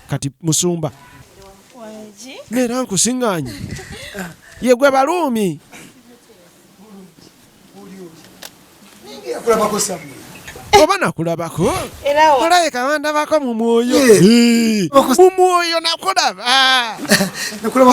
kati musumba neera nkusinganye yegwe baluumi oba nakulabako olaye kawandabako mu mwoyo mu mwoyo nakulaba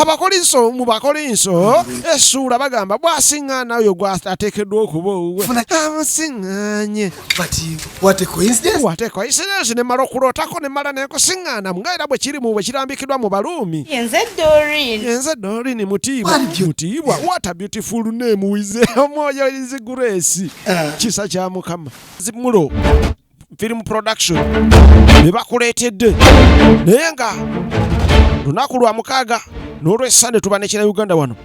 abakolinso mu bakolinso esuula bagamba bwasiŋŋaana oyo gwateekeddwa okuba owuwe amusiŋŋanye But what a coincidence. What a coincidence ne mala okulootako ne mala nenkusiŋŋaana nga era bwe kiri mu bwe kirambikidwa mu Baruumi. Yenze Doreen. Yenze Doreen mutiibwa. Mutiibwa. What a beautiful name wize omwoyo is grace. Uh. Kisa kya Mukama. Zimulo. Film production. Ne bakuleetedde. Naye nga lunaku lwa mukaaga n'olw'esande tuba ne kira Uganda wano.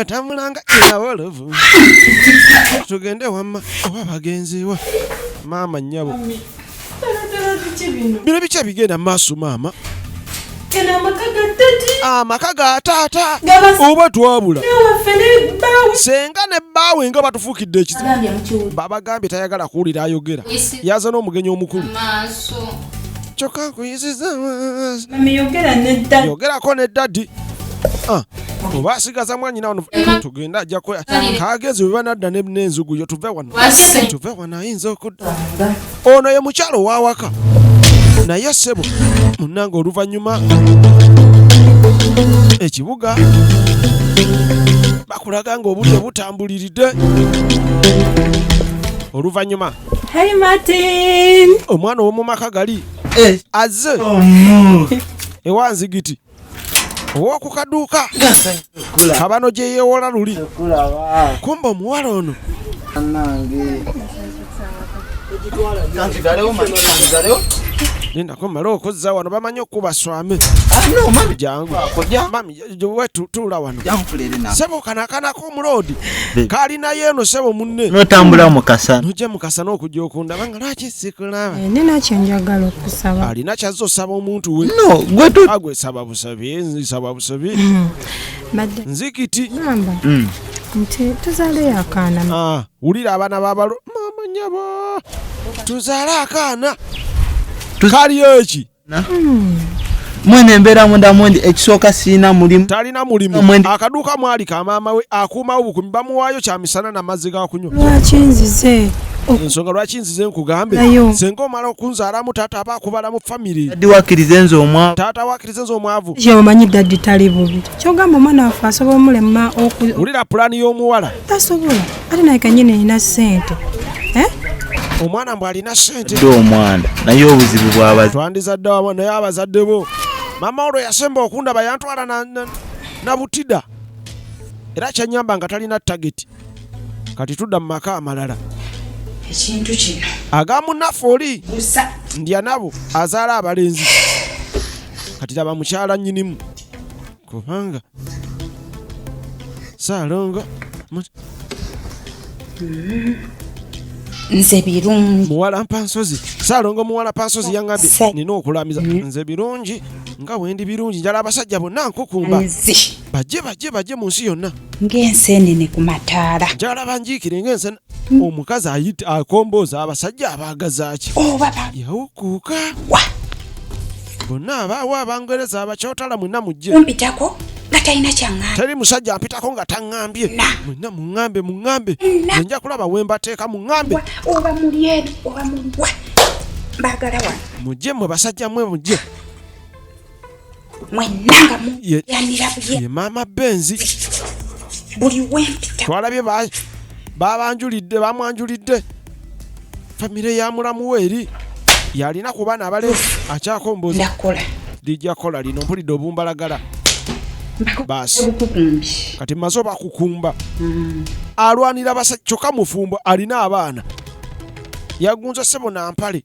atambulanga eawolovu tugende wamma oba bagenziwa maama nyabo bino bikya bigenda maaso maama amaka ga taata oba twabula senga ne bbaawe nga batufuukidde ekizibu babagambye tayagala kuwulira ayogera yaza n'omugenyi omukulu kyokka nkuyiziza yogerako ne dadi oba asigaza mwanyina wano tugenda ajja kagenzi bwe banadda n'enzugu yo tuve wano tuve wano ayinza okudda ono ye mukyalo ow'awaka naye sebo munange oluvannyuma ekibuga bakulaga nga obudde butambuliridde oluvannyuma omwana ow'omu maka gali eh. azze oh, ewa nzigiti owoku kaduuka kabano gye yeewola luli kumba omuwala ono nindako male okuzza wano bamanyi okukuba swame jangu tuula wano sebo kanakanaku omuloodi kalinayo eno sebo munne notambula mukasa nojja mukasa n'okujja okundaba nga lwaki sikulaba eh, nina kyenjagala okusaba alina kyazza osaba omuntu we no gwetagwe ah, saba busabi nsaba busabi hmm. nzikiti hmm. nti tuzale akaana ah, wulira abaana babalo mama nyabo tuzale akaana kaliyo eki mwene embeera munda mwendi ekisooka sirina mulimu talina mulimu akaduuka mwali ka maama we akuumawo bukumi bamuwaayo kya misana na mazzi ga kunywa lwaki nzize ensonga lwaki nzize nkugambe senga omala okunzaalamu taata aba akubalamu famiry dadi wakirize nze omwavu taata wakirize nze omwavu omanyi dadi tali bubi kyogamba omwana waffe asobola omulema wulira pulaani y'omuwala tasobola ate naye kanyini nina sente eh? omwana mbw alina sente dde omwana naye obuzibu bwabazi twandizadde wama naye abazadde bo mama olwo yasemba okundaba yantwala na, na, na butida era kyanyamba nga talina tageti kati tudda mu maka amalala ekintu kino agamunaffe oli ndya nabo azaala abalenzi kati laba mukyala nyinimu kubanga saalongo nze birungi muwala mpansozi saalongo muwala pansozi yangambye nina okulamiza mm. nze birungi nga wendi birungi njala abasajja bonna nkukumba bajje bajje bajje mu nsi yonna ng'enseenene ku mataala njala banjiikire ng'ensene mm. omukazi ayita akombooza abasajja abaagazaaki oba oh, yawukuuka bonna abaawo abangereza abakyotala mwena mujje kumpitako nga talina kyaŋŋambye teri musajja ampitako nga taŋŋambye mwena muŋŋambe muŋŋambe enja kulaba we mbateeka muŋŋambe oba muli eri oba muliwa mbagala wano mujje mwe basajja mwe mujje mwenna nga muyanira ye maama benzi buli wempita twalabye babanjulidde bamwanjulidde famire ya mulamu we eri yalina ku baana abale akyakomboza lijja kola lino mpulidde obumbalagala baasi kati maze obakukumba mm. alwanira basa kyokka mufumbo alina abaana yagunza sebo nampale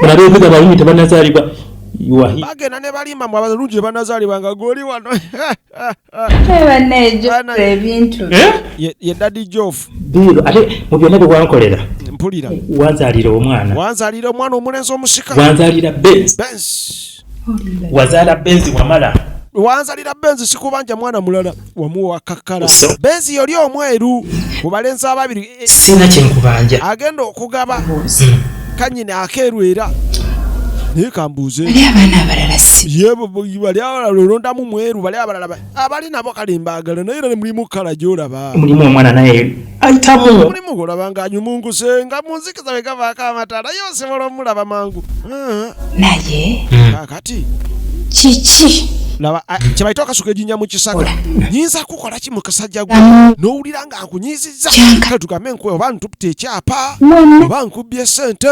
mulabe ebiga abalungi tebanazaalibwa bagenda ne balimba mu abalungi tebanazaalibwa nga goli wano ebintu eh? ye dadi jofu diiro ate mu byonna bye wankolera mpulira wanzaalira omwana wanzaalira omwana omulenzi omusika wanzaalira bensi wazala benzi wamala wanzalira benzi sikubanja mwana mulala wamuwa kakala benzi yoli omweru mubalenzi ababiri eh, eh. sina kyenkubanja agenda okugaba hmm. kanyini akeeru era naye kambuuze bali abalala olondamu mweru bali abalala abali nabo kale mbagala naye era mulimu kala gyolaba mulimu omwana naye ayitamu mulimu golaba nga anyumunguse nga munzikiza we gavaako amatala ye osobola omulaba mangu ah. naye hmm. kakati kiki laba ah, kyebayita okasuka ejinya mu kisaka nyinza kukola ki mu kasajja gwe n'owulira nga nkunyiizizza kale tugambe nkuwe oba ntupita ekyapa oba nkubbye sente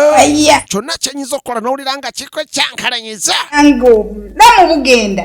kyonna kyenyinza okukola n'owulira nga kikwe kyankalanyiza nga obulamu bugenda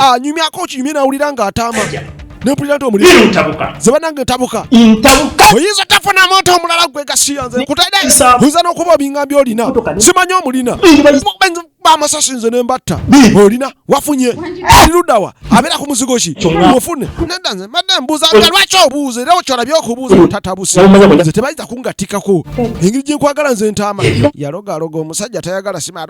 anyumyako ah, okinyumye nawulira nga ataama nempulira nti omulizebanange ntabuka oyinza tafuna muntu omulala gwe gasiya nze nkutaide oyinza nokuba obingambye olina simanya omulina bamasasi nze nembatta olina wafunye lirudawa abeera ku muzigo ki ofune neda nze madde mbuuza nga lwaki obuuza era okyolabye okubuuza otatabuse nze tebayinza kungatikako engeri gyenkwagala nze ntaama yalogaloga omusajja tayagala sima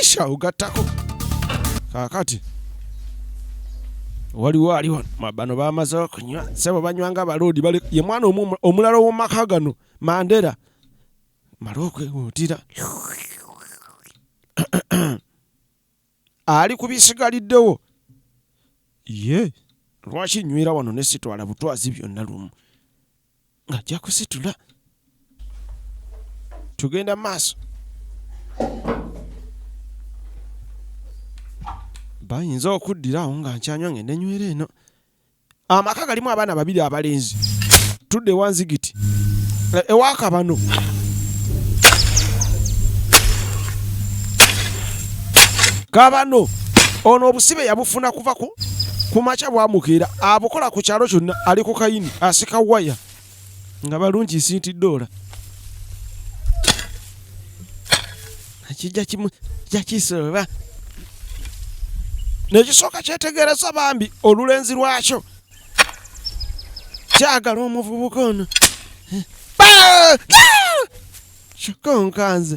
esha ugatako kakati waliwo ali wano bano bamaze okunywa sebo banywa nga baloodi bali ye mwana omulala owomaka gano mandera mala okwewuutira ali ku bisigaliddewo ye lwaki nywera wano nesitwala butwazi byonna lumu ng'ajja kusitula tugenda maaso bayinza okuddira awo nga nkyanywa ngende nywera eno amaka galimu abaana babiri abalenzi tudde wanzigiti eh, ewakabano kabano ono obusibe yabufuna kuva ku kumakya bwamukeera abukola ku kyalo kyonna ali ku kayini asika waya nga balungi sinti dola kijakisoba nekisooka kyetegereza bambi olulenzi lwakyo kyagala omuvubuka ono kyokka onkanze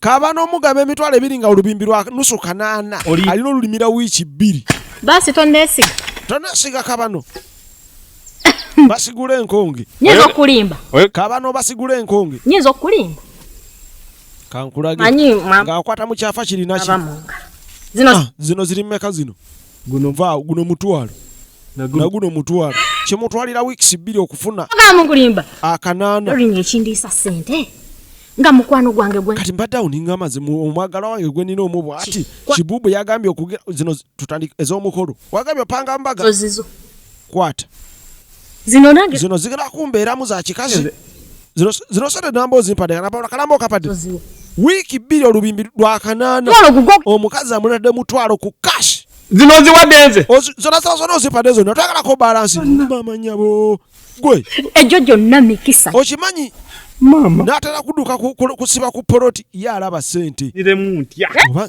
kaba n'omugaba emitwalo ebiri nga olubimbi lwa nusu kanaana alina olulimira wiiki bbiri basi tonesiga tonesiga kabano basigula enkonge nyinza okulimba kabano basigula enkonge nyinza okulimba kankulage ngaakwata mu kyafa kirinaki zino ah, zino ziri mumeka zino guno vaa guno mutwalo naguno mutwalo kimutwalira weeks bbiri okufuna mukulimba akanaana olinga ekindiisa sente nga mukwano gwange gwe kati mbadde awo ninga amazi omwagala wange gwe nina omu bwati kibubu yagambye okugira zino tutandika ez'omukolo wagambye opanga mbaga ozizo kwata Zino nange zino zigala kumbeeramu za kikazi. Zino zino sente namba ozimpadde kana pawula kalamba okapadde. Wiiki bbiri olubimbi lwa kanaana. Omukazi amulade mutwalo ku cash. Zino ziwadde nze. Zona sala zona ozimpadde zona twagala ko balance. Mama nyabo. Gwe. Ejo jonna mikisa. Okimanyi Mama. Natera kuduka kusiba ku poloti ya alaba sente. Niremu ntya. Eh?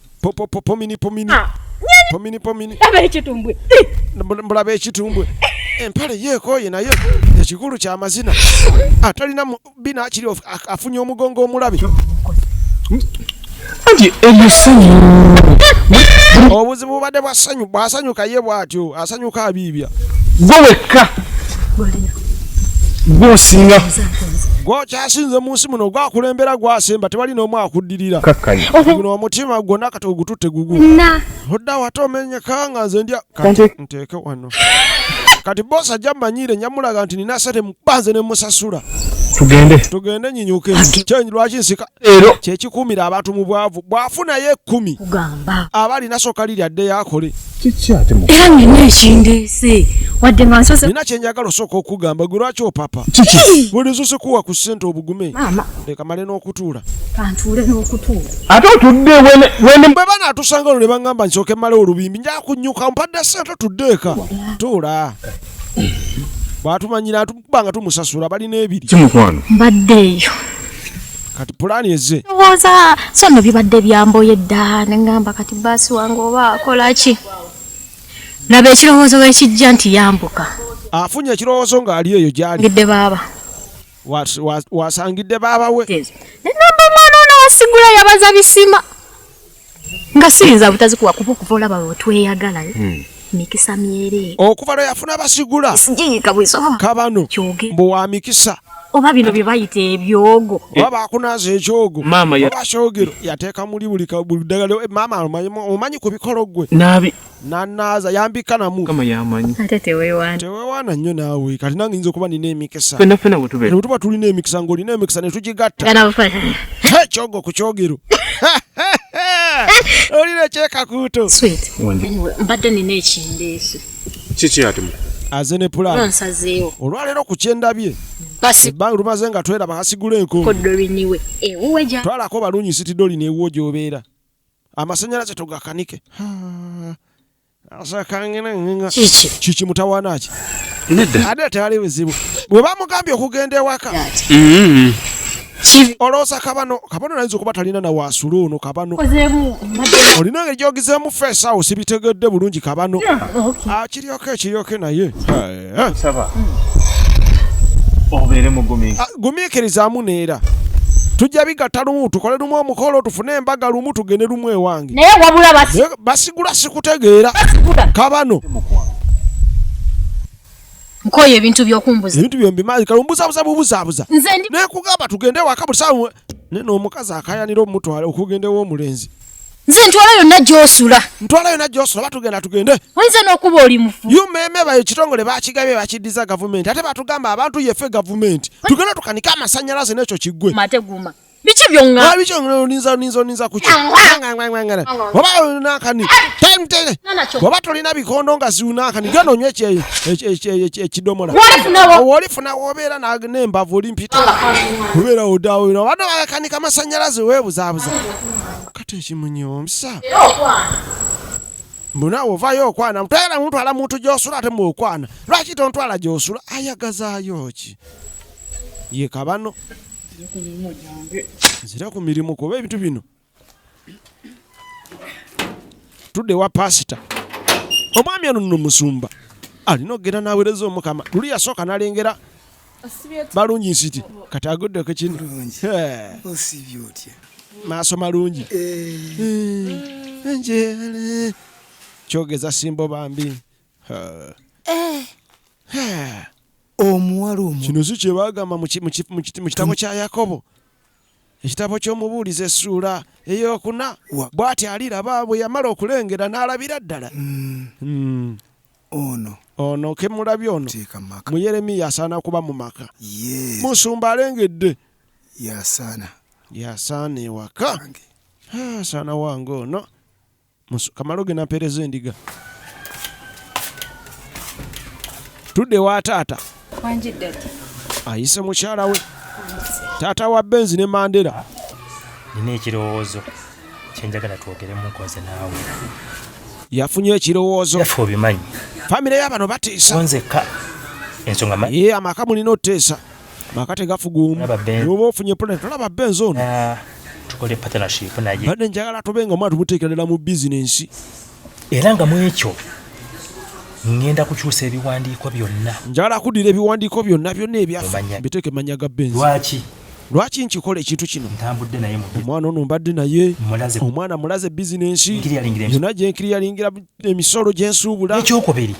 Popo popo mini pomini. Ah, pomini pomini. Laba ekitumbwe. Mbulaba ekitumbwe. Empale yeekooye naye ekikulu kya mazina. Atalina bina akiri afunye omugongo omulabi. Anti ebisanyu. Obuzibu bubadde bwa ssanyu bw'asanyuka ye bw'atyo asanyuka abiibya. Gwe wekka. Gwosinga. Gwokyasinze mu nsi muno gwakulembera gwasemba tewali n'omu akudde. okuddirira kakkanya guno omutima gwonna kati ogututte gugu odda wate omenyeka nga nze ndya kati nteeke wano kati bosi ajja mmanyiire nyamulaga nti nina sente mubanze ne musasula tugende tugende nyinyuke kyenyi lwaki nsika ero kyekikuumira abantu mu bwavu bwafunayo ekkumi kugamba aba alina soka liri adde yakole era nina ekindeese wadde nga nsoze nina kyenjagala osooka okugamba gwe lwaki opapa kiki buli zusikuwa ku sente obugume leka male n'okutuula kantuule n'okutuula ate otudde bwe banaatusanga olwo ne baŋŋamba nsooke male olubimbi nja kunyuka mpadde sente otudde eka tuula bwatumanyira tuba nga tumusasula balina ebiri kimukwano mbadde eyo kati pulaani eze ndowooza so nno bibadde byamboye dda ne ŋŋamba kati baasi wange oba akola ki laba ekirowoozo wekijja nti yambuka afunye ekirowoozo ng'ali eyo gyali ngidde baaba wasangidde baaba we namba omwana ono wasigula yabaza bisima nga siyinza butazikuwa kuba okuva olaba wetweyagala eh? hmm. mikisa myere okuva lwe yafuna basigula sijiyika bwisoma kabano mbu wa mikisa oba bino bye bayita ebyogo eh. oba bakunaaza ekyogo oba kyogero yateeka muli buli ddagala eh, maama omanyi ku bikolo gwe nanaaza yambika namu kama yamanyi ate tewewana tewewana nnyo naawe kati nange nyinza okuba nina emikisa fena fena bwetube tuba tulina emikisa ng'olina emikisa netugigatta ekyogo ku kyogero olina ekyekakuuto mbadde nina ekindeeso kiki ati aze ne pulaani olwaleero ku kyendabye ebbanga lumaze nga tweraba hasigula enko twalako balunyi sitidoli neewuwo gyobeera amasanyalaze tugakanike kiki kiki mutawaana ki ate tewali bizibu bwe bamugambye okugenda ewaka mm-hmm. olowooza kabano kabano nayinza okuba talina na waasula ono kabano olina ngeri gyogizeemu feesawo sibitegedde bulungi kabano akiryoka ah, ekiryoke naye Eh? nsaba obeere mugumiikiriza ah, gumiikirizaamu neera tujja bigatta lumu tukole lumu omukolo tufune embaga lumu tugende lumu ewange naye wabula basigula sikutegeera kabano nkoye ebintu byokumbuza ebintu byombi mazi kalumbuzabuza bubuzabuza naye kugamba tugende waka buli sawa ne n'omukazi akayanira omutwala okugenda ew'omulenzi nze ntwala yonna gyosula ntwala yonna gyosula batugenda tugende oyinza n'okuba oli mufu umeme bayo kitongole bakigabye bakiddiza gavumenti ate batugamba abantu yefe gavumenti tugenda tukanike amasanyalaze n'ekyo kiggwe mateguma biki byonga biki byonga olinza olinza olinza kuki ngangangangana baba olina akani time tele baba tolina bikondo nga ziuna akani gano nywe kye kye kidomola wali funa wobera na nemba voli mpita wobera odawo bano akani kama sanyalaze webuza buza kati ekimunyomsa mbu naawe ovaayo okwana mutwala mutwala muntu gyosula ate mu okwana lwaki tontwala gyosula ayagazaayo ki ye kabano nzira ku mirimu kuba ebintu bino tudde wa pasita omwami ono nno musumba alina okugenda n'aweereza omukama luli yasooka n'alengera balungi nsiti kati aguddeko kino maaso malungi njere kyogeza simbo bambi omuwala omu kino si kyebagamba mu kitabo kya yakobo ekitabo ky'omubuulizi essuula eyokuna bw'ati aliraba bwe yamala okulengera n'alabira ddala hmm. Hmm. Ono. Ono ke mulabye ono. Teeka mu maka. Mu Yeremiya asaana kuba mu maka. Yes. Musumba alengedde. Yasaana. Yasaana ewaka. Ah, asaana wange ono. Kamalo ge nampeereza endiga. Tudde wa taata. ayise mukyala we taata wa benzi ne mandera nina ekirowoozo kyenjagala twogeremu nkoze naawe yafunye ekirowoozo yaffe obimanyi famire yabano batiisa nzekka ensonga manyi ye amaka mulina oteesa maka tegafuguumu oba ofunye pulani tolaba benzi ono ah, tukole partnership naye badde njagala tube nga omwana tumuteekerera mu bizinensi era nga mu ekyo ngenda kukyusa ebiwandiiko byonna njala kudira ebiwandiiko byonna byonna ebyaffe biteeke mannya ga benzi lwaki lwaki nkikola ekintu kino omwana ono mbadde naye omwana mulaze bizinensi yona gyenkiri yalingira emisolo gyensuubula ekyokubiri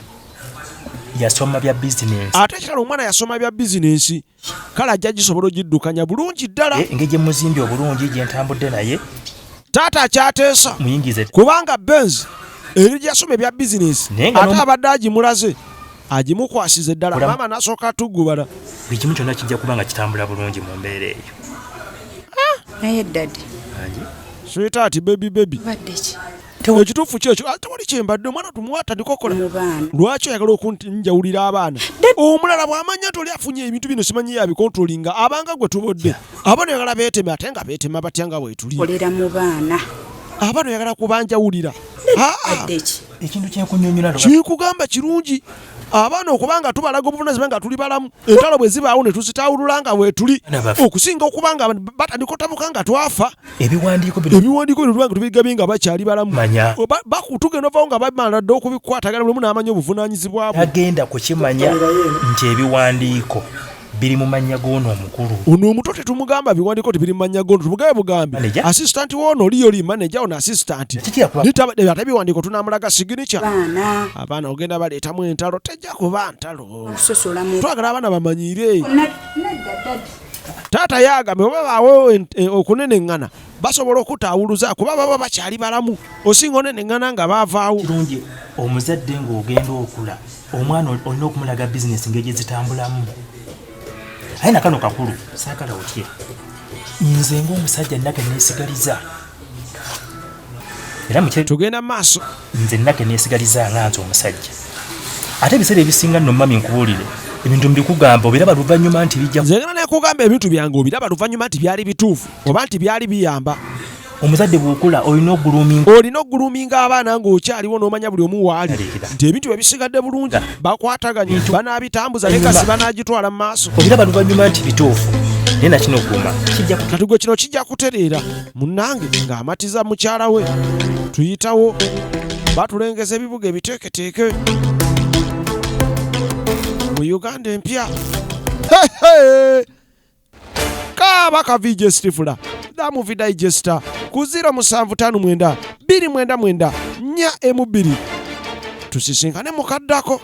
yasoma bya bizinensi ate kirala omwana yasoma bya bizinensi kale ajja gisobola ogiddukanya bulungi ddala eh, engeri gyemuzimbi obulungi gyentambudde naye taata akyateesa muyingize kubanga benz eri gyasoma ebya bizinesi ate abadde agimulaze agimukwasiza eddala maama nasooka atugubala buli kimu kyonna kijja kuba nga kitambula bulungi mu mbeera eyo ah! naye dadi switaati bebi bebi ekituufu kyekyo ah, tewali kyembadde omwana tumwatandika okola lwaki oyagala okunjawulira abaana omulala bwamanya nti oli afunye ebintu bino simanyi yabikontrolinga abanga gwe tubodde abaana oyagala beeteme ate nga beetema batya nga bwetuli abaana oyagala kubanjawulira ah, ah. ekintu kyekunyonyola kikugamba kirungi abaana okuba nga tubalaga obuvunazibwa nga tuli balamu entalo bwe zibaawo ne tuzitawulula nga weetuli okusinga okuba nga batandika otabuka nga twafa ebiwandiiko bino tubanga tubigabye nga bakyali balamu tugenda ovawo nga bamala dda okubikwatagana lumu n'amanya obuvunanyizibwa bwe agenda kukimanya nti ebiwandiiko biri mu mannya g'ono omukulu. Ono omuto tetumugamba biwandiiko nti biri mu mannya g'ono, tumugabe bugambi. Asisitanti w'ono oli yoli maneja, ono asisitanti. Ate biwandiiko tunaamulaga siginica. Abaana ogenda baleetamu entalo, tejja kuba ntalo. Twagala abaana bamanyiire. Taata yaagambe oba baawo eh, okuneneŋŋana basobola okutaawuluza kuba baba bakyali balamu osinga oneneŋŋana nga baavaawo kirungi omuzadde ng'ogenda okula omwana olina okumulaga bizinesi ngeri gye zitambulamu aye nakano kakulu saagala otye nze ng'omusajja nage neesigaliza era tugenda mu maaso nze nna teneesigaliza nga nze omusajja ate ebiseera ebisinga nno mami nkubuulire ebintu mbikugamba obiraba luvannyuma nti bijja nze ngana nekugamba ebintu byange obiraba luvannyuma nti byali bituufu oba nti byali biyamba omuzadde bwokula olina oguluminga olina oguluminga abaana ng'okyaliwo n'omanya buli omu waali nti ebintu bye bisigadde bulungi bakwataganye banaabitambuza ne kasi banaagitwala mu maaso obiraba luvannyuma nti bituufu naye nakino guma kino kino kijja kutereera Munnange ng'amatiza mukyala we tuyitawo batulengeza ebibuga ebiteeketeeke mu Uganda empya kaaba ka VJ Stifula da movie digester ku 0759 299 42 tusisinkane mukaddako